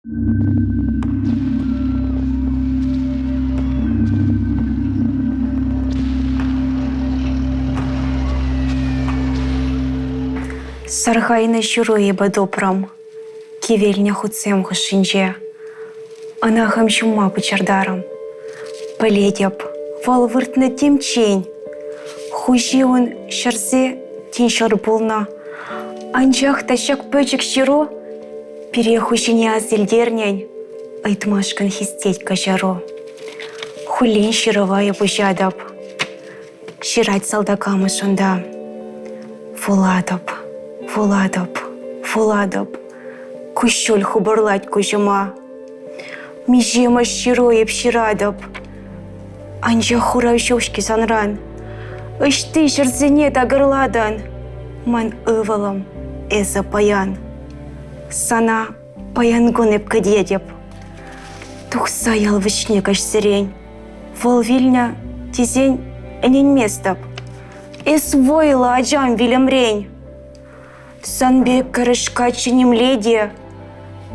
Сархайнӑ ҫыру эпӗ тупрӑм кивелнӗ хутсем хушшинче. Ӑнахӑм ҫумма пӑчӑртарӑм. Пӗлетӗп, вӑл выртнӑ темччен. Хуҫи ун ҫӗрсе тин ҫӗр пулнӑ. Анчах та ҫак пӗчӗк ҫыру Пире хуҫине асилтернӗн ыйтмашкӑн хистет каҫару. Хуллен ҫырӑва эп уҫатӑп. Ҫырать салтак амӑшӑнта. Вулатӑп, вулатӑп, вулатӑп. Куҫҫуль хупӑрлать куҫӑма. Миҫемӗш ҫыру эп ҫыратӑп. Анчах хурав ҫуҫки санран. Ӑҫти ҫӗрсене такӑрлатӑн. Ман ывӑлӑм, эсӗ паян. Сана паян кун эп кӗтетӗп. Тухса ял вӗҫне каҫсерен. Вӑл вилнӗ тесен ӗненместӗп. Эс вӑйлӑ, ачам, вилӗмрен. Сан пек кӗрӗшка чӗнемле те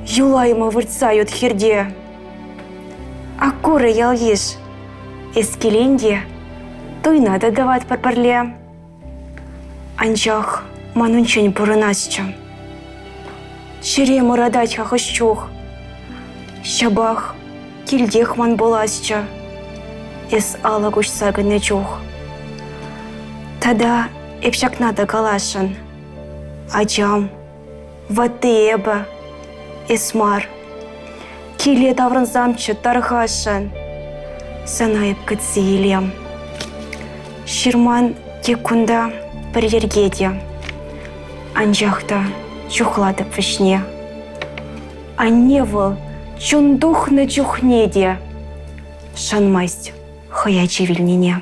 юлайма выртса ют хирте. Аккуры ял-йыш, эс килен те туйна та тӑватпӑр пӗрле. Анчах манӑнччен пурӑнасчӗ. Ҫӗре мӑратать-ха хӑш чух. Ҫапах килтех ман пуласчӗ эс алӑ куҫса кӗнӗ чух. Тата эп ҫакна та каласшӑн, ачам, Ватти эпӗ, эс мар. Киле таврӑнсамччӗ тархасшӑн. Сана эп кӗтсе илем. Ҫырман тек кунта пӗр йӗрке те. Анчах та чухлатӑп вӗҫне. Анне вӑл чун тухнӑ чухне те шанмасть хӑй ачи вилнине.